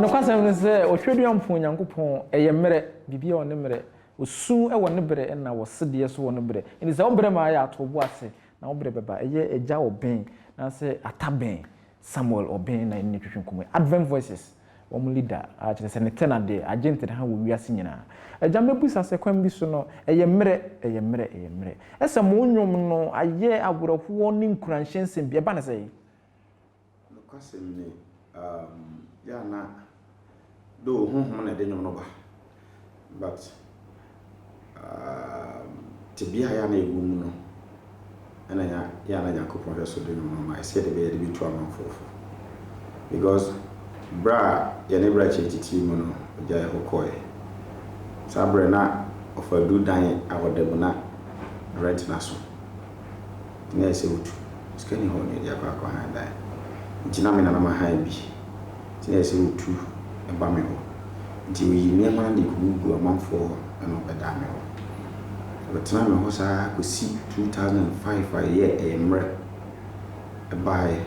Nokwasɛm ne sɛ, Ɔtweaduampɔn Nyankopɔn, ɛyɛ mmerɛ, biribiara wɔ ne mmerɛ, Ɔsu wɔ ne berɛ ɛna wɔ sedeɛ nso wɔ ne berɛ. Enti sɛ wo berɛ ma ayɛ a, to wo bo ase, na wo berɛ bɛba. Ɛyɛ Agya Ɔbɛn, anaasɛ Ata Bɛn, Samuel Ɔbɛn na yɛne no retwetwe nkɔmmɔ yi. Advent Voices. wɔn leader a kyerɛ sɛ ne tɛ na deɛ agye ntedeha wɔ wiase nyinaa agya mɛbusa sɛ kwan bi so no ɛyɛ mmerɛ ɛyɛ mmerɛ ɛyɛ mmerɛ ɛsɛ mo nnwom no ayɛ awerɛhoɔ ne nkuranhyɛ nsɛm bi ɛba ne sɛɛ. Nokwasɛm ni, um, yɛ a na, though honhom na ɛde nnwom no ba. But um tebea a yɛ a na yɛwɔ mu no, ɛna nya, yɛ a na Nyankopɔn hwɛ so de no ma ma yɛ sɛdeɛ ɛbɛyɛ de bɛtu ama nkorɔfo. Because berɛ a yɛne Brakye titiri mu no, ɔgya yɛ hɔ kɔɔɛ. Saa berɛ na ɔfa aduru dan a ɔda mu na rent no aso. na ayɛ sɛ wotu sika nni hɔ na de akɔ akɔ hann dan nti na me nana ma hann bi nti na ayɛ sɛ wotu ba me hɔ nti woyi nneɛma no de gugu amanfoɔ hɔ ɛna wɔbɛdaa me hɔ wɔtenaa me hɔ saa kɔsi 2005 a ɛyɛ ɛyɛ mmerɛ ɛbaeɛ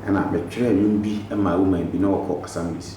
ɛna metwerɛ nnwom bi maa woman bi na wɔkɔ assemblies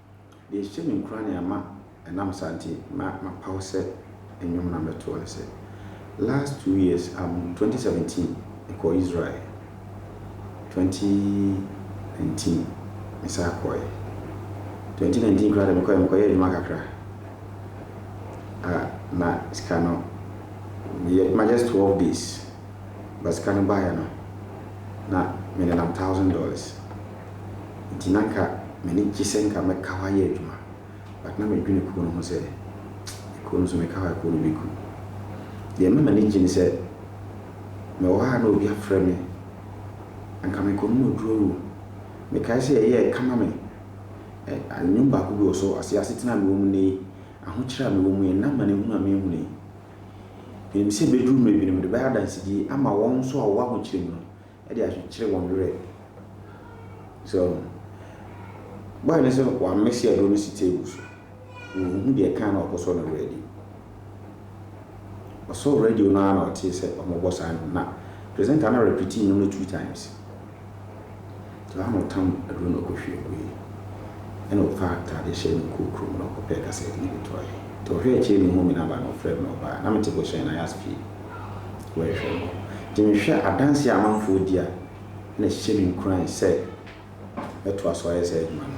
Deɛ ɛhyɛ me nkuran na ɛma ɛnam saa nti ma mapaw sɛ nnwom na mɛtoɔ ne sɛ, last two years um, twenty seventeen mekɔɔ Israel, twenty nineteen mesan kɔɔɛ, twenty nineteen koraa deɛ mekɔɔɛ mekɔyɛɛ adwuma kakra a na sika no meyɛ adwuma just twelve days but sika no baeɛ no na menenam thousand dollars. Enti na anka m'ani gye sɛ anka mɛka hɔ ayɛ adwuma. But na medwene kuo no ho sɛ, Kuo no so meka hɔ a kuo no bɛku. Deɛ ɛma m'ani gye ne sɛ, mewɔ hɔ a na obi afrɛ me. Anka mekɔnom aduro o. Mekae sɛ ɛyɛɛ kama me. Ɛ, nnwom baako bi wɔ so, ɔse, Asetena a mewɔ mu nnɛ yi, ahokyerɛ a mewɔ mu yi, ɛnna amanehunu a merehunu yi. Menim sɛ ɛbɛduru mmerɛ bi no mede bɛyɛ adansedie ama wɔn nso a wɔwɔ ahokyerɛ mu no. de akyekyere wɔn werɛ. So woahu? Boy no nso wamese aduro no si table so. Ɔnhu deɛ ɛka na ɔkɔsɔ no radio. Ɔsɔɔ radio no ara na ɔtee sɛ wɔrebɔ saa nnwom na presenter no repeatee nnwom no two times. Nti ɔha na ɔtam aduro no ɔkɔhwie guiɛ. Ɛna ɔfaa atadeɛ hyɛɛ no kɔɔ kurom na ɔkɔpɛɛ kasɛɛte no de tɔeɛ. Nti ɔhwɛɛ akyire na ɔhuu me namba no ɔfrɛɛ me na ɔbaa. Na mete Bohyɛn, Ayas fie. yɛhwɛ no. Nti mehwɛ adanseɛ a amanfoɔ di a, ɛna ɛhyɛ me nkuran sɛ mɛtoa so ayɛ saa adwuma no.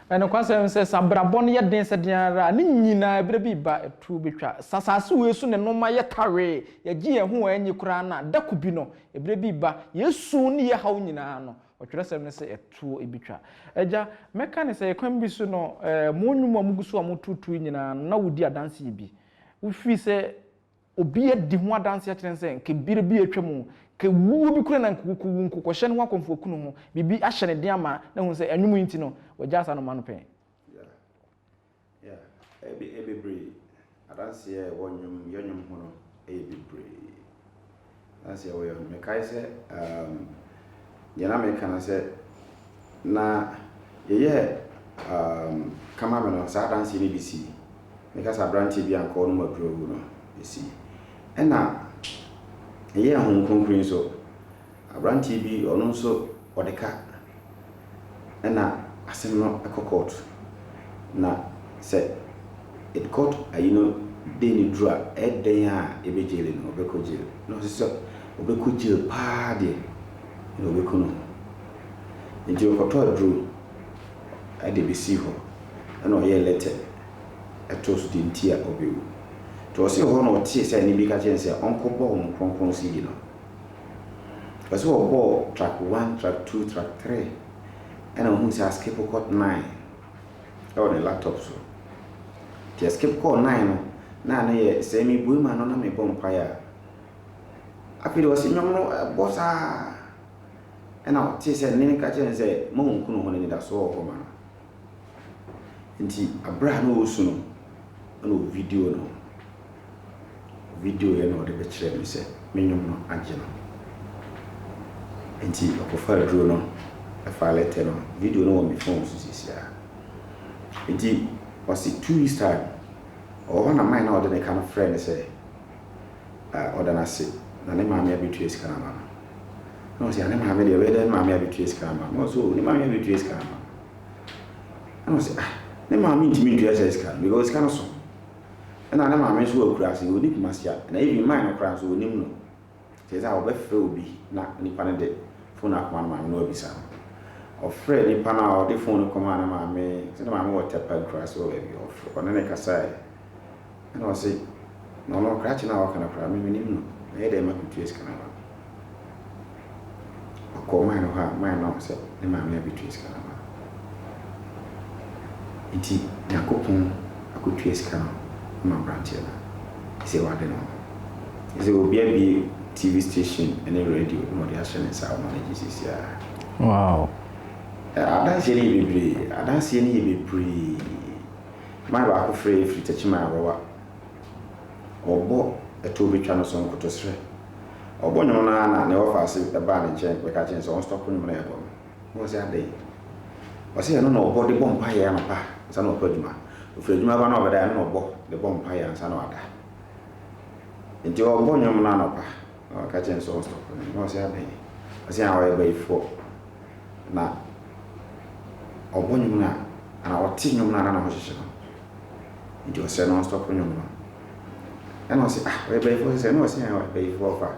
Ɛyɛ nokwasɛm sɛ, sɛ abrabɔ no yɛ den sɛ dɛn ara a, ne nyinaa bere bi reba, atuo betwa. Sɛ asase wei so na nneɛma yɛ tawee, yɛgye yɛn ho a enye koraa no a, da koro bi no, bere bi reba, yɛn su ne yɛn haw nyinaa no, Ɔtwerɛsɛm no se, atuo betwa. Agya, mɛka no sɛ, kwan bi so no, mo nnwom a mugu so a mototo yi nyinaa no, na wudi adanse bi. Wofii sɛ. Obi adi ho adanse akyerɛ no sɛ anka bere bi a atwam o, anka wuo bi koraa na anka wokowu, nkokɔhyɛ no ho akɔmfo aku ne ho, biribi ahyɛ ne den ama na ahu sɛ ɛnwom yi nti no, wagyaa saa nnoɔma no pɛn. Yeah, yeah, ɛyɛ bebree. Adanseɛ a ɛwɔ nnwom, yɛ nnwom ho no yɛ bebree. That's your way. Mekae sɛ um, deɛ na meka no sɛ na yɛyɛ um, kama me no saa adanseɛ no bi si meka sɛ aberanteɛ bi a nkɔɔ no mu aduro gu no ɛsi ɛna ɛyɛ ahom kronkron nso aberanteɛ bi ɔno nso ɔde ka ɛna asɛm no kɔ court na sɛ it court ayi no day no duru a ɛyɛ dɛn a yɛbɛ jail no ɔbɛkɔ jail na ɔse sɛ ɔbɛkɔ jail paa deɛ na ɔbɛku ne ho nti ɔkɔtɔ aduro ɛde bɛsii hɔ ɛna ɔyɛɛ letter ɛtoo so deɛ nti a ɔbɛwu nti ɔse ɛhɔ na ɔtee sɛ ɛne bi ka kyerɛ no sɛ ɔnkɔbɔ wɔn kronkron sidi no Ɔpɛ sɛ ɔbɔ track one, track two, track three. Ɛna ohun sɛ askip kɔ nine ɛwɔ ne laptop so. Nti ɛskip kɔɔ nine no na ano yɛ sɛ mebue ma no na mebɔ mpaeɛ a. Afei deɛ ɔse nnwom no ɛbɔ saa. Ɛna ɔtee sɛ nne no ka kyerɛ no sɛ, ma ɔnkunu hɔ n'anidasoɔ wɔ hɔ ma no. Ntsi aber a nna orusu no, nna ovideo no. Ovideoe na ɔdze bɛkyerɛɛ me sɛ me nwom no agye no. Ntsi ɔkɔfaa dur no faa lɛtɛ no. Video no wɔ me phone so seseiara. Ntsi ɔse two weeks time, ɔwɔ hɔ na mae na ɔdze ne ka no frɛɛ me sɛ ɔda no ase na ne maame abetua sika no ama no. Nna ɔse, Ah, ne maame de, ɔbɛyɛ dɛn ne maame abetua sika ama no? Nna ɔse, Oh, ne maame abetua sika ama no. Ɛna ɔsɛ ah ne maame ntumi ntua saa sika no because sika no so. Ɛna ne maame nso wɔ akurase ɔni kumase a na even mine no koraa nso ɔnim no. Nti ɛsɛ a ɔbɛfrɛ obi na nipa no de phone no akɔma ne maame na wabisa no. Ɔfrɛɛ nipa no a ɔde phone no kɔmaa ne maame sɛ ne maame wɔ Tɛpɛn kurase hɔ baabi ɔne no kasaeɛ. Ɛna ɔse, na ɔno krakye no a ɔka no koraa me mennim no, mɛyɛ dɛn makɔtua sika no ama no? Ɔkɔɔ man no hɔ a man no ahu sɛ ne maame abɛtua sika no ama no. Nti Nyankopɔn akɔtua sika no ama aberanteɛ no a ɛsɛ wade no ho. Ɛsɛ obi abie TV station ne radio na ɔde ahyɛ ne nsa a ɔma no gye seeseiaa. Wow. Adanseɛ no yɛ bebree, adanseɛ no yɛ bebree. Mmaa baako frɛ yɛn firi Techiman Awawa. Ɔbɔ ɛtoɔ bɛtwa no so nkotosrɛ. Ɔbɔ nnwom no ara na ne wɔfaase baa ne nkyɛn bɛka kyerɛ no sɛ ɔnstɔpo nnwom no a ɛbɔ no. Mebɔɔ sɛ adɛn? Ɔse ɛno na ɔbɔ de bɔ mpaeɛ anɔpa ansa na wakɔ adwuma. Ɔfiri adwuma ba no a ɔbɛda ɛno na ɔbɔ de bɔ mpaeɛ ansa na wada. Nti ɔbɔ nnwom no anɔpa. Na ɔka kyerɛɛ no sɛ ɔstɔpo no na ɔse adɛn ɔse aa ɔyɛ bayifoɔ na ɔbɔ nwom no a anaa ɔte nwom no a na ne ho hyehye no nti ɔsrɛ no ɔnstɔpo nwom no ɛna ɔse ah ɔyɛ bayifoɔ sesɛ na ɔse aa bayifoɔ kwa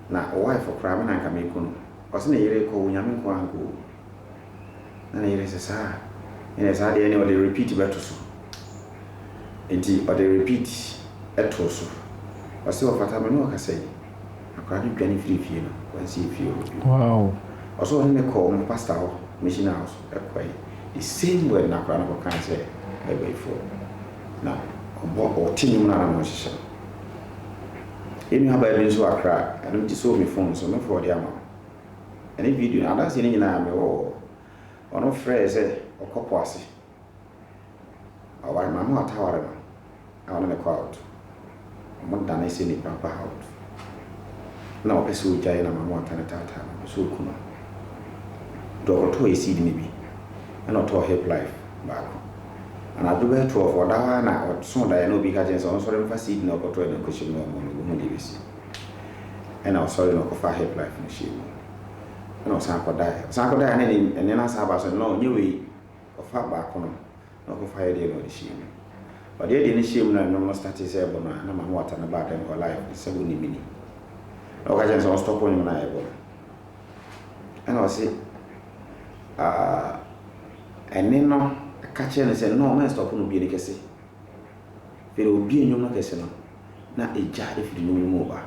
na ɔwɔ ayefo koraa me na nka meku no ɔse ne yere kɔ wo nyame nkoaa nka owu. Na ne yere se saa a enɛ saa deɛ ne ɔde repeat bɛto so. Enti ɔde repeat too so. Ɔse ɔfata me ne ɔkasa yi. Akwadaa no dwane firii fie no wansi efie hɔ bio. Ɔse ɔne me kɔɔ me pastor hɔ mission house kɔe the same word na akwadaa no kɔkae sɛ Baibuifoɔ na ɔbɔ ɔte nnwom no a na wɔn hyehyɛ no. Yɛn nuabaa bi nso wɔ Accra ɛno nti sɛ wɔ me phone so mɛfɔɔde ama wo. Ɛne video no adanseɛ no nyinaa mewɔ wɔ hɔ. Ɔno frɛɛ sɛ ɔkɔ po ase. Ɔware Mamoa Taware no na ɔne no kɔ out. Ɔmo dane sɛ nipa ba out. Na ɔpɛ sɛ ɔgyae na Mamoa tane taataa no, ɔpɛ sɛ ɔku no. Nti ɔkɔtɔɔ acid no bi ɛna ɔtɔɔ hip life baako. Anadwo bɛyɛ twelve ɔda hɔ ara na ɔsoo daeɛ na obi ka kyerɛ no sɛ ɔnsɔre mfa seed no a ɔkɔtɔɔɛ no nkɔhyɛ mu na ɔmmɔ no, ɔbɛhu deɛ ɛbɛsi. Ɛna ɔsɔre na ɔkɔfaa hip life no hyɛɛ mu. Ɛna ɔsan kɔdaeɛ. Ɔsan kɔdaeɛ a na ɛne ɛnneɛ no asan aba so. Nnɔɔ, nyɛ wei. Ɔfaa baako no na ɔkɔfaa yɛ deɛ na ɔde hyɛɛ mu. Ɔde yɛ deɛ no hyɛɛ mu na nnwom no startee sɛ ɛbɔ no a, na m'aho wata no baa dɛm hɔ live no sɛ wonim me ni. Ɛna ɔka kyerɛɛ me sɛ ɔnstɔpo nnwom no a yɛbɔ no. Ɛna ɔse ah, ɛne no ka kyerɛɛ no sɛ nnɔɔ mɛnstɔpo no bue no kɛse. Afei deɛ ɔbuee nnwom no kɛse no. na egya firi nwunu no mu reba,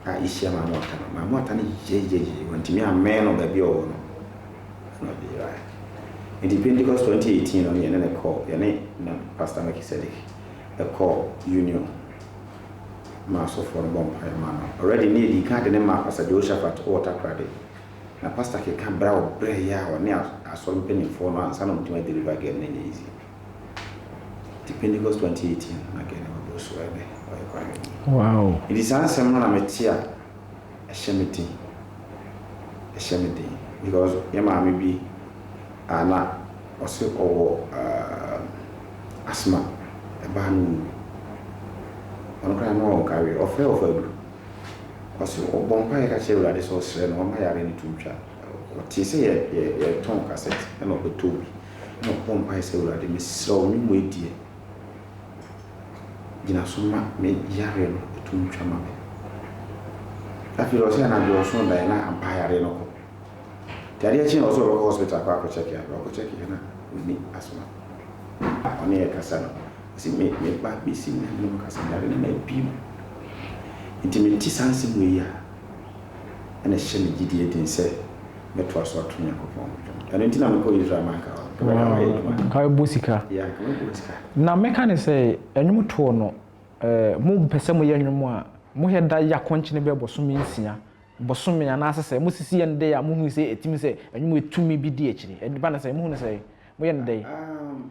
a ehyia Maamu Ata no, Maamu Ata no yeyeyeyeyee, wantumi ammɛn no baabi a ɔwɔ no, ɛnna ɔde yerae. Enti Pentecost 2018 no, yɛne no kɔɔ, yɛne na Pastor Melchizedek kɔɔ Union maa asɔfoɔ no bɔɔ mpaeɛ maa no. Already na yɛdii kan de no maa Pastor Jehoshaphat wɔ Takoradi, na Pastor keka berɛ a ɔbrɛeɛ a ɔne asɔre mpanimfoɔ no ansa na wɔatumi a deliver girl no, ɛnyɛ easy. Nti Pentecost 2018 na Gani waboro so ɛbɛ ɔyɛ kwareɛni. Wow. Nti saa nsɛm no na me te a ɛhyɛ me den, ɛhyɛ me den because yɛ maame bi a na ɔse ɔwɔ uh, asthma, ɛbaa no ɔwu. Ɔno koraa na ɔnkareɛ, ɔfrɛ ɔfɔ aduru. Ɔse ɔbɔ mpaeɛ ka kyerɛ Awurade sɛ ɔsrɛ no ɔma yareɛ no to ntwa. Ɔtee sɛ yɛ, yɛ, yɛtɔn cassette ɛna ɔbɛtɔɔ bi. na ɔbɔɔ mpae sɛ, Awurade, mesrɛ wo, me mmoa adie. Gyina so ma me yareɛ no ɛto ntwa ma me. Afei ɔsɛ anadwo ɔsoo daeɛ na ampa yareɛ no kɔ. Nti adeɛ kyeeɛ ɔsɛ ɔbɛkɔ hospital kɔ akɔ kyɛke abrɛ ɔkɔ kyɛke na ɔni asoma. Na ɔne yɛ kasa no ɔsɛ me me ba bɛsi na me ne no kasa yare no na ɛbi mu. Nti mente saa nsɛm wei a ɛna ɛhyɛ me gyidie den sɛ mɛtoa so ato Nyankopɔn ho dwom. Ɛno nti na mekɔɔ Israel manka hɔ no. Ɛbɛyɛ a wayɛ adwuma. Anka wobɛbɔ sika. Yeah, anka wobɛbɔ sika. Na mɛka ne sɛ, Nnwom toɔ no, eh, mo pɛ sɛ moyɛ nnwom a, mohwɛ da yɛ akɔnkyene bɛyɛ bɔsome nsia, bɔsome anaasɛ sɛ mosisi yɛ no dɛn a mohu sɛ ɛtumi sɛ nnwom yɛ tumi bi di akyire. Ɛba no sɛn? Mohu no sɛn? Moyɛ no dɛn? Um.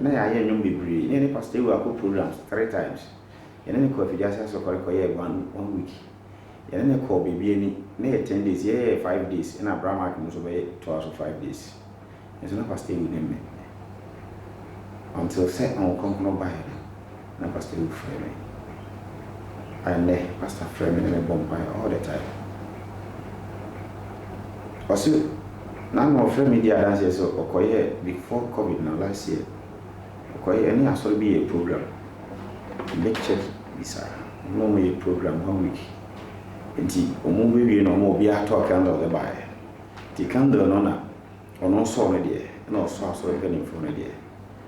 Na yɛayɛ nnwom bebree. Na yɛne Pastor Ewu akɔ programs three times. Yɛne no kɔɔ Afidiase Asɔkɔre kɔyɛɛ one one week. Yɛne no kɔɔ baabi ani. Na ɛyɛ ten days, yɛyɛɛ five days, ɛna Bra Mark no nso bɛyɛ toaa so five days. Nanso na Pastor Ewu nim me until sɛ Honhom Kronkron baeɛ no. na pastor yi frɛ me a ɛnnɛ pastor frɛ me na mebɔ mpaeɛ all the time ɔse na na ɔfrɛ me di adanseɛ sɛ ɔkɔyɛ before covid na last year ɔkɔyɛ ɛne asɔre bi yɛ program me check bisaa na ɔmo yɛ program one week nti ɔmo bɛwie na ɔmo obi atɔ candle de baeɛ nti candle no na ɔno nsɔɔ no deɛ na ɔsɔ asɔre mpanimfoɔ no deɛ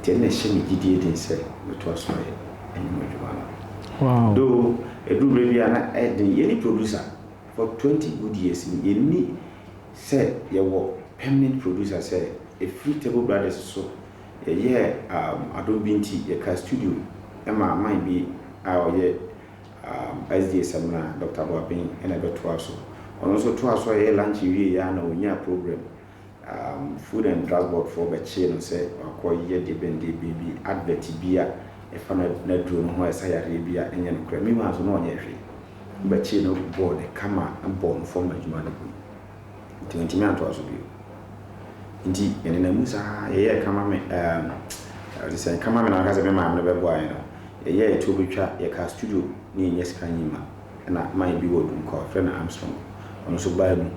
Nti ɛna ɛhyɛ me gyidie den sɛ mɛtoa so ayɛ anwuma adwuma no. Though ɛduru berɛ bi a na ɛyɛ den. Yɛne producer for twenty good years no yɛnni sɛ yɛwɔ permanent producer sɛ ɛfiri Table Brothers so yɛyɛɛ um adom bi nti yɛkaa studio maa man bi a ɔyɛ um SDA Samina, Doctor Boaben na ɛbɛtoaa so. Ɔno nso toaa so a yɛyɛ lunch wieeɛ a na ɔnyaa programme. Food and Drug Board foɔ bɛkyee no sɛ wakɔ yɛ deɛbɛndeɛbɛn bi, advert bi a ɛfa n'aduro no ho a ɛsa yareɛ bi a ɛnyɛ nokorɛ. Meanwhile nso na ɔnyɛɛ hwee. Wobɛkyee no bɔɔ no kama bɔɔ no fam ma adwuma no gui. Nti wantumi antoa so bio. Nti yɛnenam mu saa yɛyɛɛ kama me ɛɛm te sɛ kama me na mɛka sɛ me maame no bɛboa yɛn no, yɛyɛɛ tuo bɛtwa, yɛkaa studio na yɛnnya sika nyii ma. Ɛna man bi wɔ Dunkwa wɔfrɛ no Armstrong ɔno nso baa mu.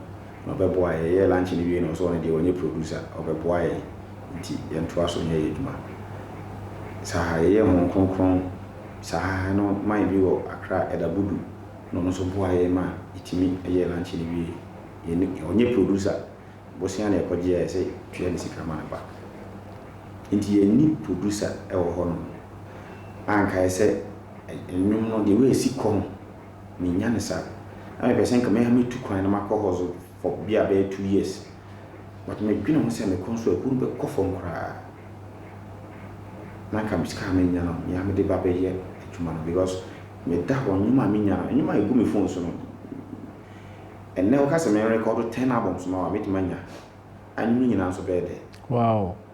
na ɔbɛboa yɛn. Yɛyɛɛ lunch no wiei na ɔsɛ ɔno deɛ ɔnyɛ producer, ɔbɛboa yɛn nti yɛntoa so nyɛ yɛn adwuma. Saa yɛyɛɛ Honhom Kronkron saa no man bi wɔ Accra, Elder Budu na ɔno nso boaa yɛn ma yɛtumi yɛɛ lunch no wiei. Yɛn ɔnyɛ producer, bosea na yɛkɔgyeɛ a yɛsɛ tua no sika ma no ba. Nti yɛnni producer wɔ hɔnom. Anka yɛsɛ nnwom no the way ɛsi kɔ no mennya no saa. Na mepɛ sɛ nka me ara metu kwan na makɔ hustle for bi a bɛyɛ two years. But medwene ho sɛ mekɔ nso a ɛhɔ no bɛkɔ fam koraa. Na nka sika a menya no me ara mede ba bɛyɛ adwuma no because meda hɔ nneɛma a menya no, nneɛma a ɛgu me phone so no, ɛnnɛ woka sɛ me record ten albums ma wo a mɛtumi anya? Anwene nyinaa nso bɛyɛ dɛ. Wow!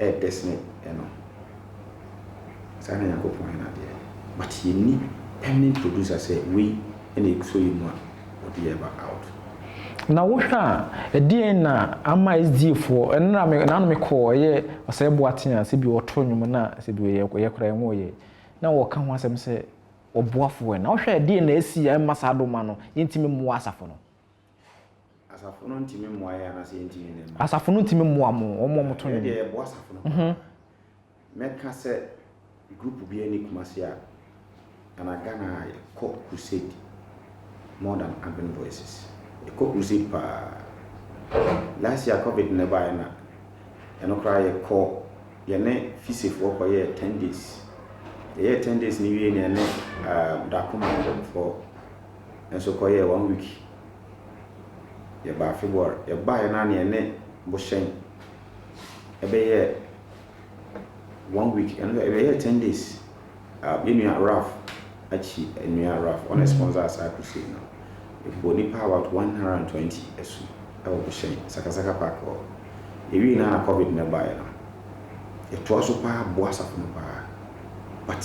ɛyɛ dɛ sene ɛno. Saa na Nyankopɔn yɛ n'adeɛ. But yɛnni permanent producer sɛ wei na ɛsɔ yɛ mu a ɔde yɛ ba out. Na wohwɛ a, ɛdeɛn na ama SDA foɔ, ɛno na me, naano mekɔɔ ɛyɛ Ɔsɛe Boaten a sɛbi ɔɔto nnwom na sɛbi ɔyɛ, ɔyɛ koraa ɛnwo ɔyɛ. Na wɔɔka ho asɛm sɛ ɔboa foɔ ɛ. Na wohwɛ a ɛdeɛn na asi a ɛmma saa doma no, yɛntumi mmoa asafo no. Asafo no ntumi mmoa yɛn anaasɛ yɛntumi nni mma. Asafo no ntumi mmoa mo, wɔn a wɔto nnwom. Yɛn deɛ yɛboa asafo no paa. Mɛka sɛ group bi ani Kumasi a, ana Ghana a yɛkɔ crusade more than Urban Voices. Yɛkɔ crusade paa. Last year covid no baeɛ na ɛno koraa yɛkɔ yɛne fisefoɔ kɔyɛɛ ten days. Yɛyɛɛ ten days no wie na yɛne Dakoma for nso kɔyɛɛ one week yɛbaa February yɛbaeɛ no a na yɛne Bohyɛn ɛbɛyɛɛ one week ɛno deɛ ɛbɛyɛɛ ten days uh, yɛn nua Ralph akyi nua Ralph ɔna sponsor saa crusade no ɛbɔ nipa about one hundred and twenty ɛso ɛwɔ Bohyɛn sakasaka park hɔ yɛwie no a na covid no baeɛ no yɛtoa so paa boa asafo no paa but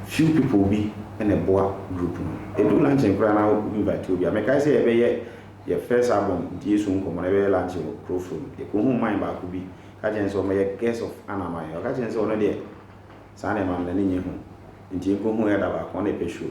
few people bi na ɛboa group no. Ɛduru luncheon koraa na wo invite obi a, mekae sɛ yɛbɛyɛ yɛ first album nti Yesu Nkɔmmɔ no yɛbɛyɛ lunch wɔ Krofrom, yɛkɔhuu man baako bi ka kyerɛɛ no sɛ ɔmmɛyɛ guest of Anaman, ɔka kyerɛɛ no sɛ ɔno deɛ saa nneɛma no n'ani nnye ho nti yɛkɔhuu yɛ da baako ɔna ɛpɛ show.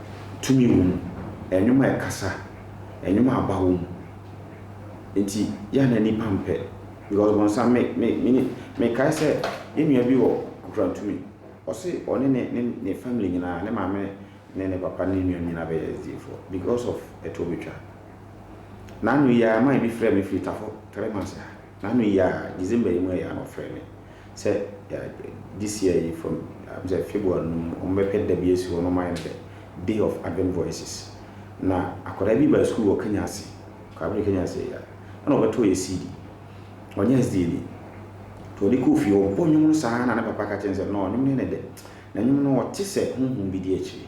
tumi wɔ mu, nnwom a ɛkasa, nnwom a aba wɔ mu. Enti yɛ a na nnipa mpɛ because bɔnsam me me me mekae sɛ yɛn nua bi wɔ nkurantumi ɔse ɔne ne ne ne family nyinaa ne maame ne ne papa ne ne nuanom nyinaa bɛyɛ SDA foɔ because of ɛtoɔ betwa. N'ano yi ara man bi frɛɛ me firi Tafo three months ha n'ano yi ara December yi mu ɛyɛ a na ɔfrɛ me sɛ this year yi from am sɛ February no mu wɔn bɛpɛ da bi asi hɔ na wɔn ayɛ no dɛ day of advent voices na akwadaa bi baa sukuu wɔ Kenya ase kwabere Kenya ase ya ɛna ɔbɛtɔ yɛ CD ɔnyɛ SDA ni nti ɔde kɔɔ fie ɔbɔ nnwom no saa na ne papa ka kyɛn sɛ no nnwom no yɛ ne dɛ na nnwom no ɔte sɛ honhom bi di akyire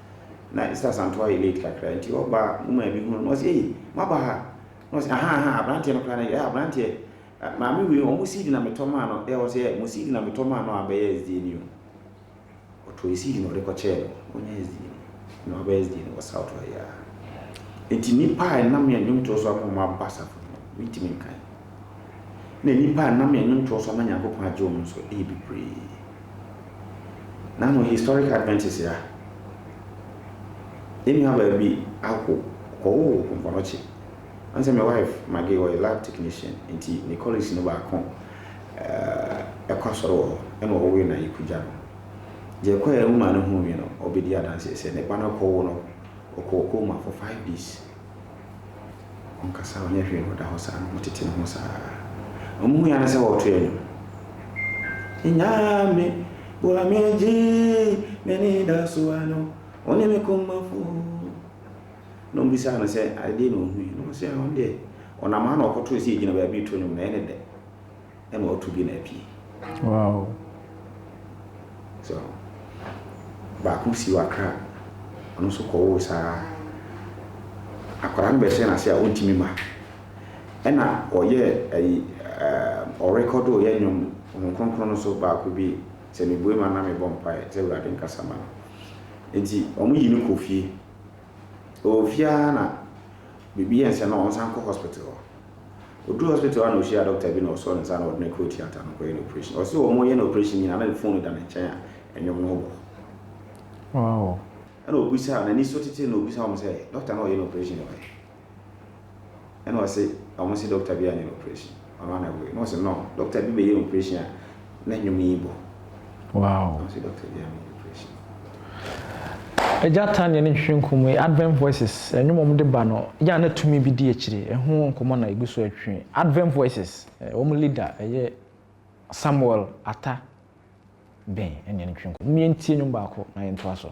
na Esther Asantew ayɛ late kakra nti ɔba a mo maame hunu no na ɔse ei moaba ha na ɔse ahaa ahaa abranteɛ no koraa na yɛ abranteɛ maame wei ɔmo seed na metɔ maa no ɛ ɔse ɛ mo seed na metɔ maa no a bɛyɛ SDA ni o ɔtɔɔ seed na ɔde kɔ kyɛɛ no ɔnyɛ SDA ni na wabɛyɛ SDA ni wɔ south hɔ yɛ a nti nipa a ɛnam yɛ nnwomtoɔ so ama ɔmo aba asafo no mentumi nkan Nna nyimpa a nna me nnwontow so ama Nyankopɔn agye wɔn so yɛ beberee. Na hom Historic Adventist yɛ a, hɛn nuabaa bi awo, ɔwoo Nkonɔkye. Ɔnye sɛ me wife, Maggie, ɔyɛ lab technician ntsi, ne colleagues no baako kɔ asɔr wɔ hɔ na ɔwee no Ayeku gya no. Dza ɛkɔe a mo maa no hun wie no, obedii adanse dɛ sɛ ne ba no kɔwo no, ɔkɔɔ cooma for five days. Ɔnkasa, ɔnyɛ hwee na ɔda hɔ saa na ɔtete ne ho saa. Ɔmmuae ara sɛ wɔretoɛ nnwom. Nyame boa me gye m'anidaso ano, wo ne me komafo. Na ɔmbisaa no sɛ adeɛ na ɔhui. Na ɔse ɔno deɛ ɔnam ha na ɔkɔtoo sɛ yɛgyina baabi reto nnwom na ɛyɛ ne dɛ. ɛma ɔto bi na apue. Wow. So baako si wɔ Accra, ɔno nso kɔwoo saa akwadaa no bɛhyɛ n'ase a ɔntumi ma. Ɛna ɔyɛ ayi ɛɛ ɔrekɔdo yɛ nnwom Honhom Kronkron no so baako bi sɛ mebue ma na mebɔ mpaeɛ sɛ Awurade nkasa ma no. Nti wɔn yi no kɔ fie. Ɔwɔ fie ara na biribi yɛ nsɛ na wɔsan kɔ hospital hɔ. Ɔduruu hospital hɔ a na ɔhyiaa dɔkta bi na ɔsɔɔ ne nsa na ɔde no kɔɔ theatre no kɔyɛ no operation. Ɔse wɔreyɛ no operation nyinaa na ne phone da ne nkyɛn a nnwom no bɔ. Wow. Ɛna ɔbisaa, n'ani so titiri na ɔbisaa wɔn sɛ, Dɔkta na ɔyɛ no operation na ɔyɛ? Ɛna ɔse, wɔn se dɔkta biara nyɛ no operation, ɔno ara na ɛwɔ yi. Na ɔse, No, dɔkta bi bɛyɛ operation a, na nnwom yi bɔ. Wow. Agya Tania ne nhwehwɛ nkɔmmɔ yi, Advent Voices, nnwom a wɔde ba no, yɛ a na tumi bi di akyire. Ɛho nkɔmmɔ na ɛgu so retwe. Advent Voices, wɔn leader yɛ Samuel Atta Ben, ɛne yɛn ntwe nkɔmmɔ. Momma yɛntie nnwom baako na yɛntoa so.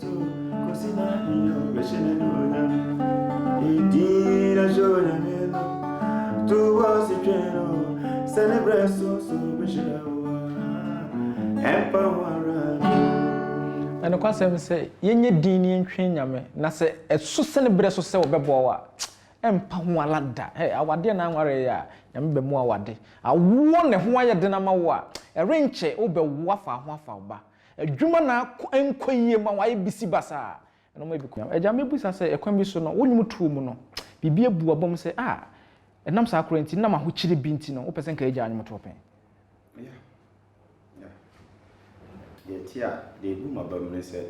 Na nokwasɛm sɛ yɛnyɛ dinn na yɛntwɛn Nyame, na sɛ ɛso sɛ ne berɛ so sɛ ɔbɛboa wo a, ɛmpa ho ara da. Hey, awadeɛ na anwaree a, Nyame bɛmu awade. Awoɔ na ɛho ayɛ den ama wo a, ɛrenkyɛ wobɛwo afa ho afa wo ba. Adwuma na ako ɛnkɔ yie ma w'ayɛ bisi basaa, ɛnɔma ebi kɔ. Agya, mɛbisa sɛ ɛkwan bi so no, wo nnwom tuo mu no, biribi abu abam sɛ, ah, ɛnam saa koro nti, ɛnam ahokyere bi nti no, wopɛ sɛ nka yɛgyaa nnwom to pɛn? Yeah, yeah. Deɛ ɛte a, deɛ ɛbu m'abam ne sɛ.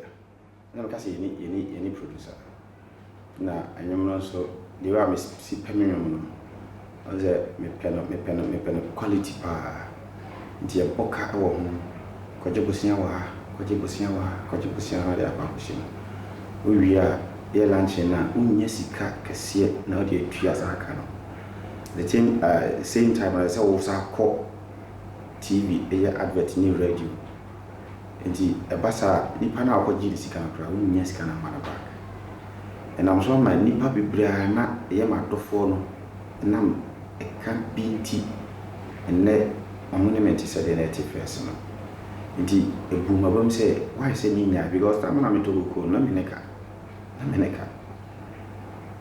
Na meka sɛ yɛne yɛne yɛne producer na ɛnwom no nso the way a mesi pɛ me nwom no ɔn sɛ mepɛ no mepɛ no mepɛ no quality paa nti yɛbɔ ka wɔ ho kɔgye bosea wɔ ha kɔgye bosea wɔ ha kɔgye bosea na ɔde akɔ akɔhyɛ mu wowie a yɛ luncheon no a wonya sika kɛseɛ na wode atua saa ka no the same, uh, same time ɛsɛ sɛ wo sa kɔ TV ɛyɛ advert ne radio Enti ɛba saa a, nipa no a ɔkɔgyee ne sika no koraa, wonnya sika no mma no back. Ɛnam so ama nnipa bebree a na ɛyɛ m'adɔfoɔ no ɛnam ɛka bi nti, ɛnnɛ wɔn ne me nte sɛdeɛ na ɛte first no. Enti ɛbuu m'abam sɛ, why sɛ mennyae because time a na metɔ kokoo no, na me ne ka. Na me ne ka.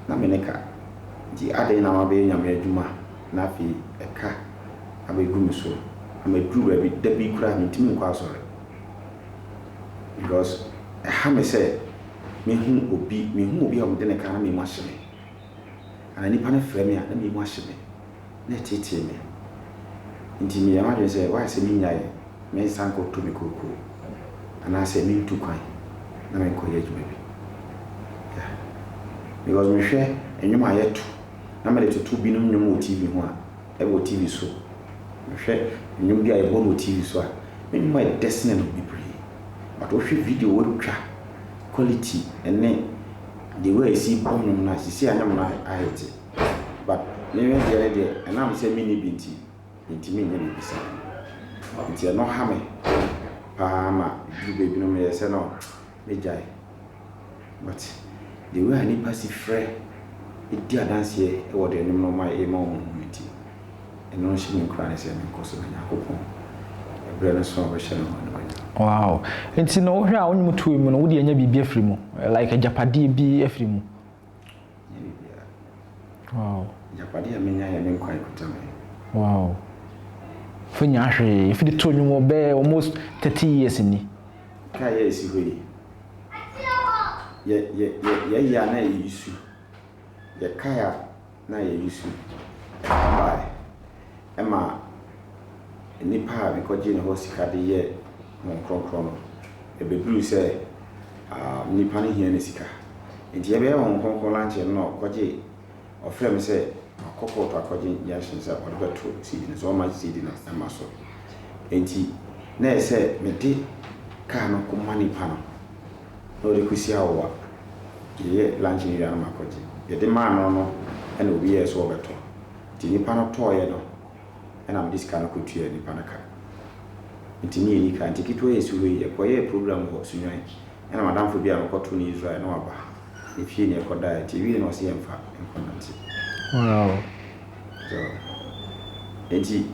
Na me ne ka. Enti adɛn na mabɛyɛ Nyame adwuma na afei ɛka abɛgu me so ama ɛduru baabi da bi koraa mentumi nkɔ asɔre because ɛha me sɛ mɛhu obi, mehu obi a wɔde ne ka na me mu ahye me anaa nipa no frɛ me a na me mu ahye me na ɛtetee me nti meyɛ m'adwene sɛ why sɛ menyae mensan kɔtɔ me kookoo anaasɛ mentu kwan na menkɔyɛ adwuma bi yeah. because mehwɛ nnwom a yɛto na mede toto binom nnwom wɔ TV ho a wɔ TV so. Mehwɛ nnwom bi a yɛbɔ no wɔ TV so a, me nnwom ayɛ dɛ sene no bebree. But wohwɛ video a wɔatwa, quality ne the way a yɛsi bɔ nnwom no a, seesei a nnwom no ahete. But me me deɛ ne deɛ, ɛnam sɛ menni bi nti, mentumi nyɛ biribi saa. Nti ɛno ha me paa ma ɛduru baabi no meyɛ sɛ no. bɛgyae. But the way a nnipa si frɛ di adanseɛ wɔ deɛ ɛnom nom a ɛyɛ ma wɔn no nti, ɛno nhyɛ me nkuran sɛ menkɔ so na Nyankopɔn ɛberɛ no so a ɔbɛhyɛ no ho animuonyam. Wow. Nti no wohwɛ a wonwom toem no wode anya biribi afiri mu like agyapadeɛ bi afiri mu Wow. Agyapadeɛ a menya yɛ me nkwa ɛkuta me. Wow. Fɛ nya hwee. Fɛ de to nnwom wɔ bɛɛ almost thirty years ni. Kaa yɛ esi hɔ yi. Yɛ yɛ yɛ yɛ yɛ ana yɛ isu. Yɛ kaa na yɛyi su bae. Ɛma nnipa a mekɔgyee hɔ sika de yɛɛ wɔn kronkron no, ebeduu sɛ nnipa no hia ne sika. Enti yɛbɛyɛ wɔn kronkron no ankyɛ no na ɔkɔgyee, ɔfrɛɛ me sɛ makɔ kɔɔto akɔgye injunction sɛ ɔde bɛto seed no so, ɔmma seed no mma so. Enti na ɛsɛ sɛ mede kaa no kɔma nnipa no. na ɔde kɔsi awowa. Yɛyɛ lunch no wie a na makɔgye. Yɛde maa no no na obi yɛɛ sɛ ɔrebɛtɔ. Nti nipa no tɔeɛ no na mede sika no kɔtuaa nipa no ka. Nti ne yɛnni ka. Nti ketewa yi a ɛsi hɔ yi, yɛkɔyɛɛ program wɔ Sunyani. Ɛna m'adamfo bi a mekɔtoo no Israel na waba. Ne fie na yɛkɔdaeɛ. Nti ɛwiee no na ɔse yɛmfa nkɔnante. Wow! So, nti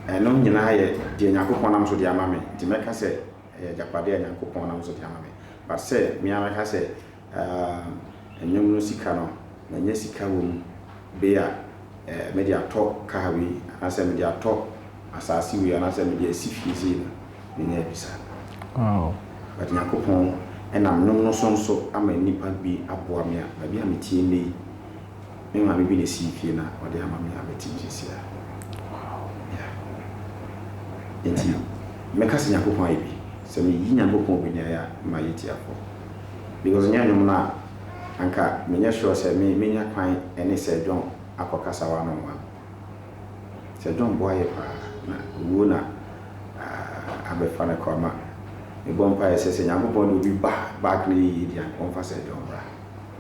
ɛno nyinaa yɛ deɛ Nyankopɔn nam so de ama me. Nti mɛka sɛ Ɛyɛ agyapade a Nyankopɔn nam so de ama me. But sɛ me ara mɛka sɛ, ah, nnwom no sika no, manya sika wɔ mu, be a, eh, mede atɔ car wei, anaasɛ mede atɔ asaase wei, anaasɛ mede asi fie sei no, menya abi saa. Wow. But Nyankopɔn nam nnwom no so nso ama nnipa bi aboa me a, baabi a metie nnɛ yi, Me maame bi na esii fie na ɔde ama me a mete mu seesei a. Yeah. Enti, mɛka sɛ Nyankopɔn ayɛ bi. Sɛ meyi Nyankopɔn wɔ nyae a, mayɛ tiafoɔ. Because nyɛ nnwom no a, anka menyɛ sure sɛ me, menya kwan ne Sir John akɔ kasa one on one. Sir John boa yɛ paa, na owuo na ah, abɛfa no kɔ ama. Mebɔ mpaeɛ sɛ, sɛ Nyankopɔn de obi ba back na ɛyɛ yie deɛ a, anka ɔmfa Sir John mmra.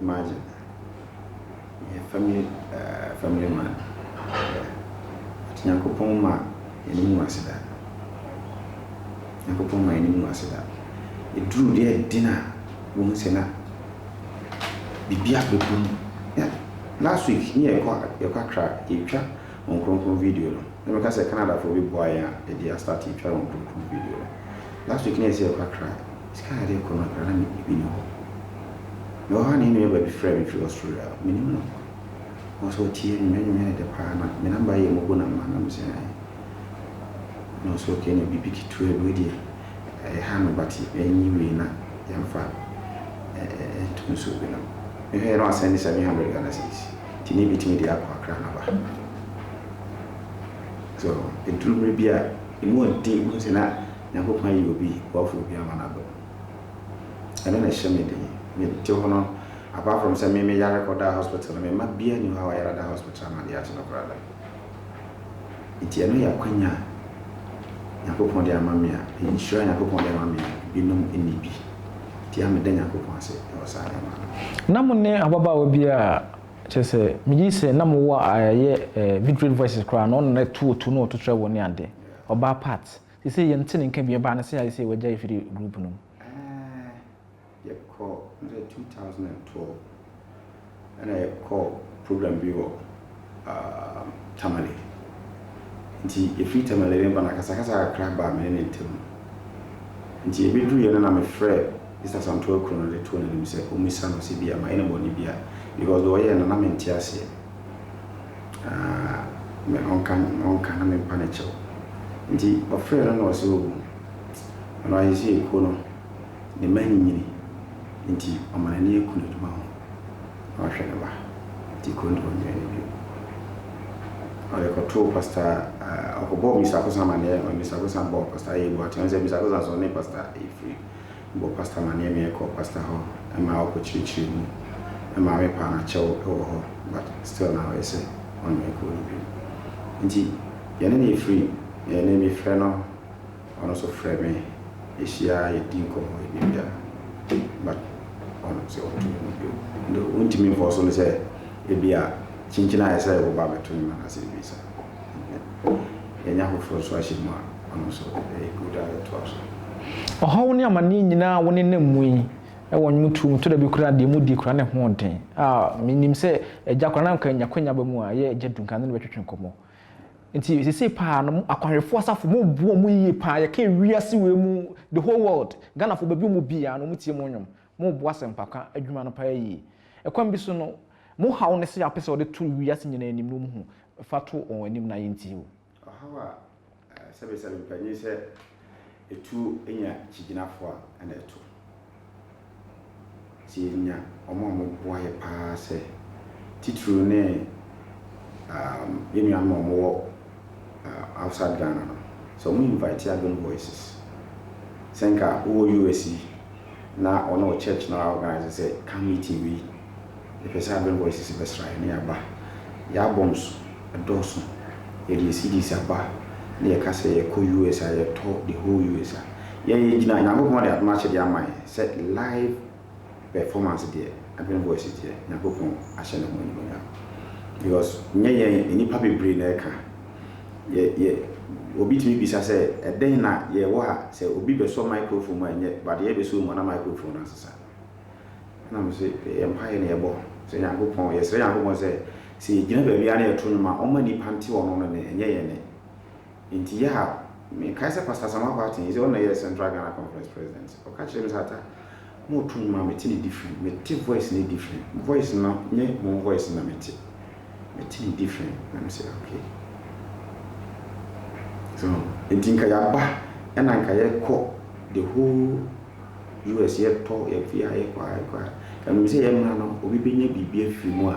Imagine yɛ family ɛɛ family man hwɛ but Nyankopɔn mma yɛn anim ngu ase da Nyankopɔn mma yɛn anim ngu ase da eduru deɛ ɛden a wohu sɛ na biribi abɛbu mu na last week ne yɛ kɔ yɛ kɔ Accra yɛ twa wɔn kronkron video no na mɛka sɛ Canada foɔ bɛboa yɛn a yɛde astarte twa wɔn kronkron video no last week ne yɛ sɛ yɛ kɔ Accra. Sika a yɛde rekɔ no, ɛha ne ebi ne hɔ. Mewɔ hɔ a na yɛn nuabaa bi frɛɛ me firi Australia. Mennim no. Nanso ɔtiee me. M'anim yɛɛ no dɛ paa na me namba yɛ mobo namba na mesɛn ayɛ. Na ɔse okay na biribi ketewa bi, wei deɛ ɛyɛ ha no but ɛnye wei na yɛmfa nto nsuo bi nom. Mehwɛɛ na wasɛnde seven hundred Ghana cedis nti na mɛtumi de akɔ Accra na aba. So ɛduru mmerɛ bi a emu yɛ den, wohu sɛ na. Nyankopɔn ayi obi boafoɔ bi ama no adom. Ɛno na ɛhyɛ me den. Me te hɔ no, apart from sɛ me me yare kɔ daa hospital no, me mma biara nni hɔ a wayare ada hospital ama adeɛ akye no koraa da. Nti ɛno yɛ akwanya a Nyankopɔn de ama me a, ɛyɛ nhyira a Nyankopɔn de ama me a binom nni bi. Nti a meda Nyankopɔn ase wɔ saa nneɛma no ho. Na mo ne ababaawa bi a, kyerɛ sɛ, me gye di sɛ na mo wɔ a ɛyɛ eh, Victory Voices koraa no, ɔno na ɛto otu na ɔto trɛbol ne adeɛ, ɔbaa part. Seisei yɛn te ne nka bi ɛbaa no sɛ ayɛ sɛ wagyae firi group no mu. Ɛɛɛ yɛkɔ na sɛ two thousand and twelve ɛna yɛkɔ program bi wɔ um, Tamale nti yɛfiri Tamale ne ba no akasakasa kakra baa me ne ne ntam nti ɛbɛduruiɛ no na mefrɛ Mister Asantuo Akuro no de too n'anim sɛ ɔmmisa no sɛ bia mayɛ no bɔne bia because deɛ ɔyɛɛ no na mente aseɛ. Aah ɔnka me ɔnka na mempa no kyɛw Nti ɔfrɛɛ no na ɔse ohu Ɔno ara sɛ ekuo no ne mma anyinyini Nti ɔma n'ani aku n'adwuma ho na ɔhwɛ ne mma Nti kuro no deɛ ɔnnwene no bio Ɔde kɔtoo Pasta ɔkɔbɔɔ Mister Akosa amanneɛ Mister Akosa bɔɔ Pasta Ayɛi Boateng sɛ Mister Akosa sɛ ɔne Pasta ɛfiri Bɔ Pastor amaneɛ me kɔ Pastor hɔ ma ɔkɔ kyirikyiri mu maame paa na kyɛw wɔ hɔ but still na ɔyɛ sɛ ɔne me kɔ no bio nti yɛne no ɛfiri yɛne me frɛ no ɔno nso frɛ me yɛhyia yɛdi nkɔmɔ yɛ biribiara but ɔno sɛ ɔto no mu bio nti wontumi mfɔɔ so no sɛ ɛbia kyinkyin ayɛ sɛ wo ba bɛto ne ma no ase ɛbisa. yɛanya foforɔ nso ahyɛ mu a, ɔno nso ɛyɛ good a yɛtoa so. Ɔhaw ne amaneɛ nyinaa a wonenam mu yi, ɛwɔ nnwom tuo mu tɔ da bi koraa deɛ mudi koraa ne ho den. Ah, menim sɛ Agya koraa na nka nya kwanya ba mu a, ɛyɛ Agya Duncan ne no bɛtwetwe nkɔmmɔ. Nti seesei paa no, mo akwanhwɛfoɔ asafo, moboa mu yie paa, yɛka wiase wei mu, the whole world, Ghanafoɔ baabi a wɔwɔ biara no, wɔtie mo nnwom. Morebɔ asɛmpaka adwuma no paa yie. Ɛkwan bi so no, mo haw ne sɛ wopɛ sɛ wɔde to wiase nyinaa anim no mu hu. Fa to wɔn anim na yɛntie wo. Ɔhaw a sɛbesɛbe pɛ nye sɛ etu nya kyigyinafo a nna ɛto. Sɛ yenya wɔn a wɔboa yɛn paa sɛ titiriw ne yɛn nuanom a wɔwɔ outside Ghana no sɛ ɔmo invite Adwen voices sɛ nka wowɔ US yi na ɔne wo church no a organise sɛ ka meeting wei yɛpɛ sɛ Adwen voices bɛsra yɛn na yɛaba yɛ albums ɛdɔɔso yɛde yɛ CDs aba na yɛka sɛ yɛkɔ US a yɛtɔ the whole US a yɛn yɛgyina Nyankopɔn de adom akyɛdeɛ ama yɛn sɛ live performance deɛ ɛbɛn voice deɛ nyankopɔn ahyɛ ne ho animonyam because nyɛ yɛn nnipa bebree na ɛka yɛ yɛ obi tumi bisa sɛ ɛdɛn na yɛwɔ ha sɛ obi bɛsɔ microphone mu a ɛnyɛ but yɛ bɛsɔ mu ana microphone no asesa na mo sɛ yɛ mpa yɛ na yɛbɔ sɛ nyankopɔn yɛsrɛ nyankopɔn sɛ sɛ yɛgyina baabi a na yɛto nwom a ɔma nnipa nte ɔno no ne ɛnyɛ yɛn ne Enti yɛ a mekae sɛ Pastor Asamoah Kwarteng, sɛ ɔnna yɛ Central Ghana Conference President, ɔka kyerɛɛ me sɛ, Atta, moreto nnwom a mete no different, mete voice no different, voice no nyɛ mo voice na mete, mete no different, na mese, Okay. So, enti nka yɛaba na nka yɛkɔ the whole US, yɛtɔ, yɛfeɛ a, yɛkɔ a, yɛkɔ a, nka menim sɛ yɛmmra no, obi bɛnya biribi afiri mu a,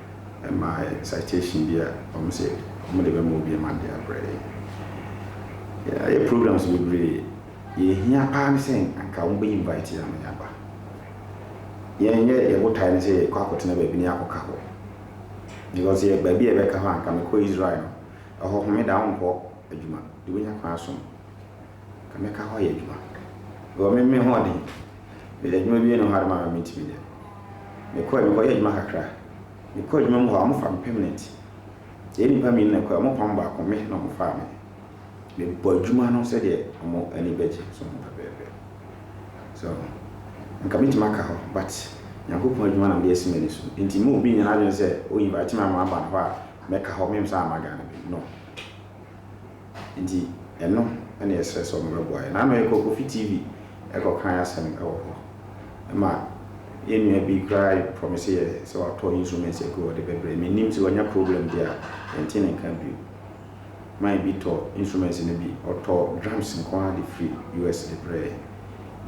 ɛma citation bi a wɔn sɛ wɔn de bɛma obi ma de abrɛ yɛn. Yɛayɛ programs bebree, deɛ ehia paa ne sɛ anka wɔn bɛ invite yɛn ama yɛaba. Yɛn yɛ yɛn botae ne sɛ yɛkɔ akɔtena baabi ne yɛakɔka hɔ. Because yɛ baabi a yɛbɛka hɔ anka mekɔ Israel no, ɛhɔ homeda wonkɔ adwuma, de wobɛnya kwan asom. Ka me ka hɔ yɛ adwuma. Mewɔ me me hoɔden. Me yɛ adwuma wie no hɔ ara ma me me ntumi nyɛ. Me kɔɛ me kɔ yɛ adwuma kakra. Me kɔ adwuma mu hɔ a ɔmo fa me pɛmnɛnt. Yɛ nipa mmienu na ɛkɔɛ ɔmo pam baako me na ɔmo faa me. Me bɔ adwuma no sɛdeɛ ɔmo ani bɛ gye so ho pɛpɛɛpɛ. So nka me tumi aka hɔ but Nyankopɔn adwuma na me de asi m'ani so nti mma obi nyɛ n'adwene sɛ o invite me ama ma ba hɔ a mɛ ka hɔ me nsa amma Ghana bio no. Nti ɛno na yɛsrɛ sɛ wɔbɛboa yɛn. N'ano yɛ Kokofi TV kɔkae asɛm wɔ hɔ ma yɛn nua bi koraa promise yɛ sɛ watɔ instruments agu hɔ de bɛbrɛ. Mennim sɛ wanya problem deɛ a yɛnte ne nka bio. Man bi tɔ instruments no bi, ɔtɔɔ drums nko ara de firi US de brɛɛ yɛn.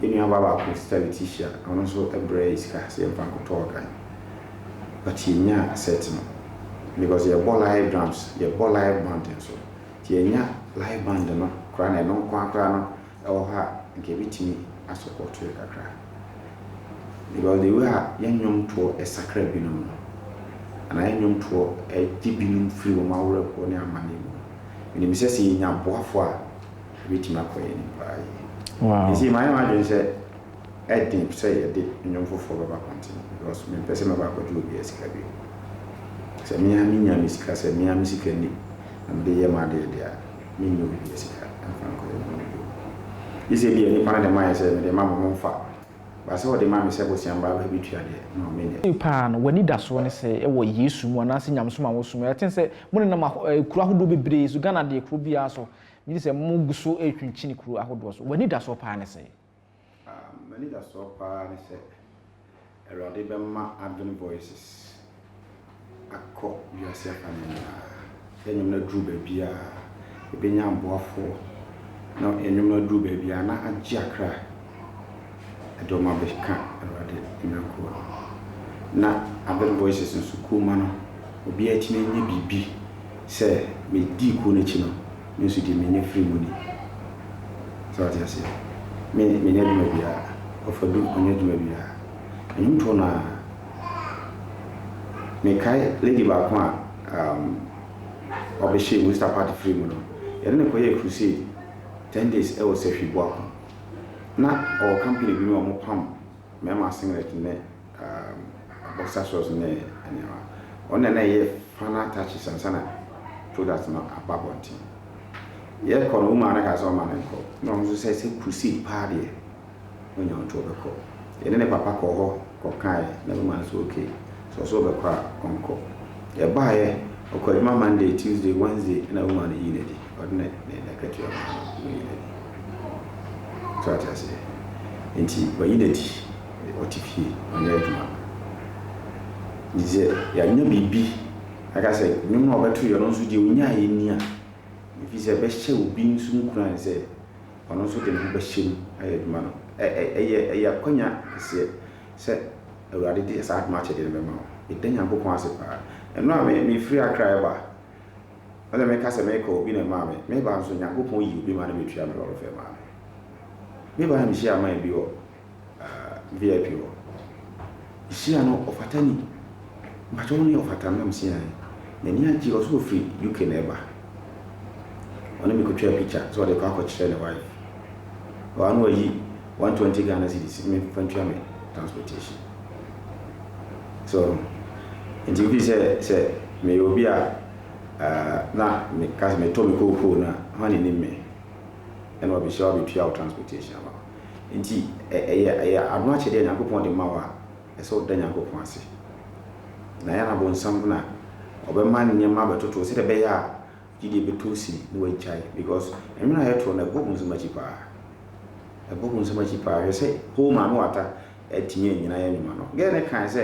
Yɛn nuabaa baako, Sister Letitia, ɔno nso brɛɛ yɛn sika sɛ yɛmfa nkɔtɔ organ. but yɛnya set no because yɛbɔ live drums, yɛbɔ live band nso nti yɛnya live band no koraa na ɛno nkoaa koraa no ɛwɔ hɔ a nka ɛbɛtumi a support yɛ kakra because the way a yɛn nnwom toɔ sakra binom no anaa yɛn nnwom toɔ gye binom firi wɔn awerɛhoɔ ne amane mu menim sɛ sɛ yɛnya aboafoɔ a ɛbɛtumi akɔ yɛn anim paa yie nti mayɛ m'adwene sɛ Ɛyɛ den sɛ yɛde nnwom foforɔ bɛba pɔnten because mempɛ sɛ mɛba akɔgye obiara sika bio. Sɛ me ara menya me sika, sɛ me ara me sika ni na mede yɛ m'adeɛ deɛ a, mennya obiara sika mfa nkɔyɛ nnwom bio. Gye sɛ ebia nnipa no de ma yɛn sɛ mede ma mo momfa. But sɛ wɔde ma me sɛ bosea mma bɛtua deɛ, no menyɛ. Sei paa no, w'anidasoɔ ne sɛ wɔ Yesu mu anaasɛ nyamesom a wosom. Yɛatee sɛ monenam ahɔ, kuro ahodoɔ bebree so, Ghana deɛ kuro biara so. Megye di sɛ mogu so retwentwene kuro ahodoɔ so. W'anidasoɔ paa ne sɛn? M'anidasoɔ pa ara ne sɛ Awurade bɛma Adwene Voices akɔ wiase afanan nyinaa, sɛ nnwom no aduru baabiara, ɛbɛnya aboafoɔ, na nnwom no aduru baabiara na agye akra de wɔn abɛka Awurade mmra kuo no ho. Na Adwene Voices nso kuo mma no, obiara atumi anya biribi sɛ medii kuo no akyi no, me nso deɛ menya firii mu ni. Sɛ wate aseɛ? Me, menyɛ adwuma biara. Ɔfadu, ɔnyɛ adwuma biara. Nnwontoɔ no ara. Mekae lady baako a um, ɔbɛhyɛɛ Worcester party firii mu no, yɛne no kɔyɛɛ crusade ten days wɔ Sahwi Boakom. Na ɔwɔ company bi mu a wɔpam mmarima singlet ne um, boxer shorts ne nneɛma. Ɔno na na ɛyɛ final attaches ansa na product no aba abɔnten. Yɛkɔ no, wo maa no kaa sɛ ɔma no nkɔ. Na ɔno nso sɛ sɛ proceed paa deɛ, ɔnya ɔnto ɔbɛkɔ. Yɛne ne papa kɔɔ hɔ kɔkaeɛ, na me maa no sɛ okay, sɛ ɔsɛ ɔbɛkɔ a ɔnkɔ. Yɛbaeɛ, ɔkɔɔ adwuma Monday, Tuesday, Wednesday, ɛna wo maa no yii no adi. Ɔde ne ne n'akatua ma no na ɔyi n'adi. So ate aseɛ? Nti wayi n'adi. Ɔte fie, ɔnyɛ adwuma. Nti sɛ yɛanya biribi aka sɛ nnwom no a ɔbɛto yɛ no nso deɛ ɔnyaeɛ ni a, ɛfiri sɛ ɛbɛhyɛ obi nso nkuran sɛ ɔno nso de ne ho bɛhyɛ mu ayɛ adwuma no. Ɛ, ɛ, ɛyɛ, ɛyɛ akwanya kɛseɛ sɛ Awurade de saa adom akyɛdeɛ no bɛma wo. Meda Nyankopɔn ase paa. Ɛno a me, mefiri Accra reba, Ɛna meka sɛ mekɔ obi na ɛmaa me me ba nso Nyankopɔn yi obi ma no bɛtua me lɔre fɛ maa me. Me ba mehyia man bi wɔ VIP hɔ. Mehyia no ɔfata ni. Mpakyɛ wo ne ɔfata nam si ae. N'ani agye ɔse ɔfiri UK na ɛba. Ɔne me kɔtwaa picture sɛ ɔde rekɔ akɔkyerɛ ne wife. Ɔa na wayi One twenty Ghana cedis me fa ntua me transportation so nti wofi sɛ sɛ meyɛ obi a uh, na meka sɛ metɔ me kookoo no a hwan ne nim me ɛna ɔbɛhyia wabɛtua wo transportation ama nti ɛyɛ ɛyɛ ano akyɛdeɛ nyankopɔn de ma wo a ɛsɛ woda nyankopɔn ase na yɛ na bonsam na ɔbɛma nneɛma bɛtoto sɛdeɛ ɛbɛyɛ a gyidie bɛtɔ wo sini na wagyae because nwene a yɛtoɔ no ɛbɔ wo nsɛm akyi paa ɛbɔ wo nsɛm akyi paa hwɛ sɛ hoo maame wata atumi anyina yɛ nwoma no girl no kae sɛ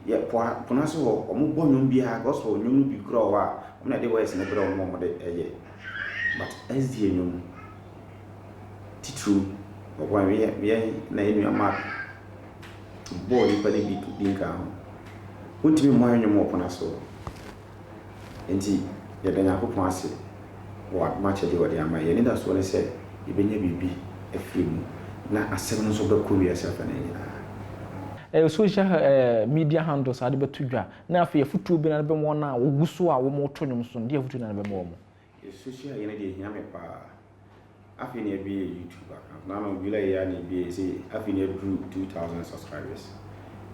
yɛ po a pono ase hɔ ɔmo bɔ nwom biara gospel nwom no bi kura wɔ hɔ a ɔmo na ɛde voice no brɛ ɔmo ɔmo de ɛyɛ but SDA nwom titiriw ɔbɔ anwe yɛ yɛ na yɛ nua mark bɔɔ nipa no bi bi nka ho wontumi mmɔ yɛ nwom wɔ pono ase hɔ. Enti, yɛda Nyankopɔn ase wɔ adom akyɛde a ɔde ama yɛn. Yɛn anidasoɔ ne sɛ yɛbɛnya biribi afiri mu, na asɛm no nso bɛkɔ wiase afanan nyinaa. Ɛyɛ social media handles a wode bɛto dwa, na afei afotuo bɛn na wode bɛma wɔn a wɔgu so a wɔreto nnwom nso no? Deɛn afotuo na wode bɛma wɔn? Social yɛ no deɛ ɛhia me paa. Afei na yɛabie YouTube account. Na no July yɛ a na yɛbie sɛ afei na yɛaduru 2000 subscribers.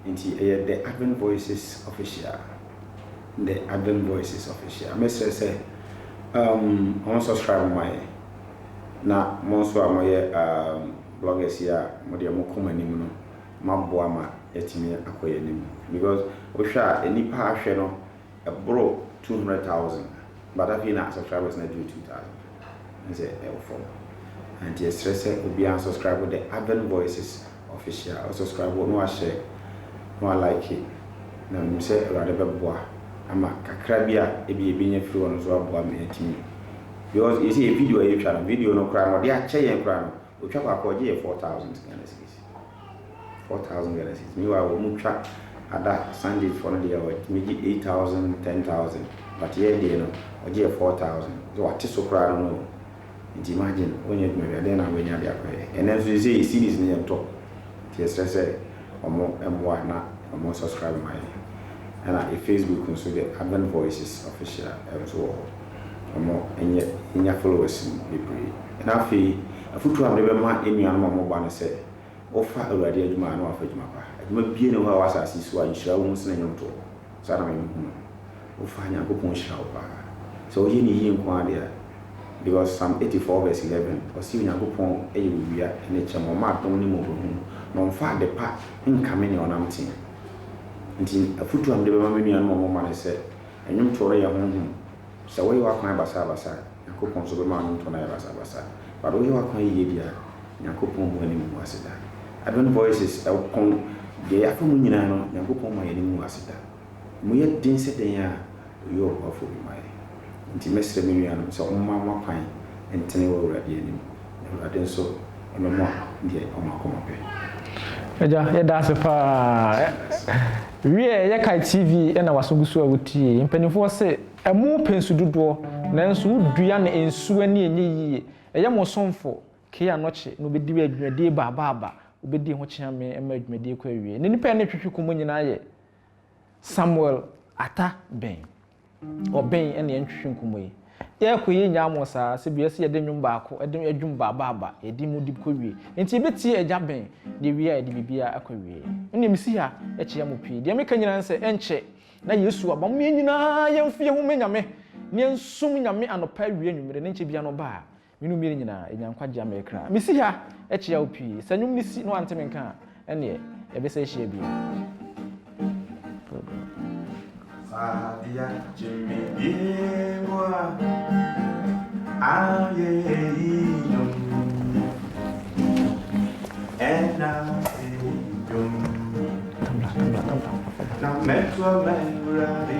Nti ɛyɛ The Advent Voices Official. The Advent Voices Official. Mesrɛ sɛ um, wɔn subscribe mo ma yɛ. Na mo nso a moyɛ um, bloggers yi a mo deɛ mo kɔ mo anim no, moaboa ma yɛatumi akɔ yɛn anim. Because wohwɛ a, nnipa a ahwɛ no Ɛboro two hundred thousand but afei na subscribers no aduru two thousand na sɛ ɛwɔ fam a nti yɛsrɛ sɛ obiara nsubscribe the Aven Voices Official ɔsubscribe na wahyɛ na wa like na menim sɛ Awurade bɛboa ama kakra bi a ebia yɛbɛnya afiri hɔ no nso aboa ma yɛatumi because yɛsɛ yɛ video a yɛtwa no video no koraa no ɔde akyɛ yɛn koraa no Otwa faako a ɔgye yɛ four thousand Ghana cedis. Four thousand Ghana cedis. Meanwhile wɔn mo twa ada Sundays foɔ no deɛ wɔtumi gye eight thousand, ten thousand but yɛ deɛ no ɔgye yɛ four thousand. Sɛ wate so koraa no no o. Nti imagine wɔnyɛ adwuma biara dɛn na wanya de akɔyɛ. Ɛnɛ nso seisei cedis no yɛntɔ. Nti yɛsrɛ sɛ wɔn mmoa na wɔn subscribe ma yɛn. Ɛna Facebook nso deɛ Advent Voices Official nso wɔ hɔ. wɔn nyɛ nya followers bebree. Na afei afotuo a mede bɛma yɛn nuanom a wɔba no sɛ, wofa Awurade adwuma a na wafa adwuma pa. Adwuma biara nni hɔ a ɛwɔ asase yi so a nhyira wɔ mu sene nnwomtoɔ. Saa na mehunu no. Wofa a Nyankopɔn nhyira wo paa. Sɛ woyɛ no yie nko ara deɛ a, because Psalm 84 verse 11, ɔse Onyankopɔn yɛ owia ne kyɛm, ɔma adom ne mmɔborɔhunu, na ɔmfa adepa nkame nea ɔnam teɛ. Nti afotuo a mede bɛma me nuanom a wɔba no sɛ, Nnwomtoɔ no yɛ honhom. Sɛ woyɛ w'akwan basabasa a, Nyankopɔn nso bɛma w'nnwomtoɔ no ayɛ basabasa. But woyɛ w'akwan yie deɛ a, Nyankopɔn hu w'anim hu w'ase da. Advent Voices ko deɛ yɛafa mu nyinaa no, Nyankopɔn mma yɛn anim ngu ase da. Emu yɛ den sɛ dɛn a, Ɔyɛ Ɔboafoɔ bi ma yɛn. Enti mɛsrɛ me nuanom sɛ wɔmma wɔn akwan ntene wɔ Awurade anim. Awurade nso ɔbɛma deɛ wɔn akoma pɛ. Agya yɛda ase paa wiɛ yɛ kae TV na waso gu so a wotie mpaninfoɔ se ɛmo pɛ nsu dodoɔ nanso wo dua no nsu ani ɛnyɛ yie ɛyɛ mo somfo kee anɔkye na obɛdi adwumadie ba aba aba obɛdi ho kyea me ɛma adwumadie kɔ awie na nipa ɛne twetwe kɔ mo nyinaa yɛ Samuel Ata Beng Ɔben na yɛntwetwe nkumu yi. Yɛɛkɔ yi yɛnyaa mo saa sɛ bia ɛsɛ yɛde nwom baako ɛde adwum ba ba ba yɛde mu de kɔ wie nti yɛbɛtie agya Ben na ɛwie a yɛde biribiara akɔ wie. Me deɛ mesi ha ɛkyea mo pii deɛ meka nyinaa ne sɛ ɛnkyɛ na Yesu aba mo yɛn nyinaa yɛnfie ho mɛ Nyame na yɛnsum Nyame anɔpa awia anwummere na ɛnkyɛ biara no ɔba a Me no mmienu nyinaa, yɛnya nkwagye ama yɛn kra. Mesi ha kyia wo pii. Sɛ nnwom no si na wante me nka a, ɛnneɛ yɛbɛsan ahyia bio. Fadia Jimmy Yewa Aye Yom Ena Yom Na Metwa Mewradi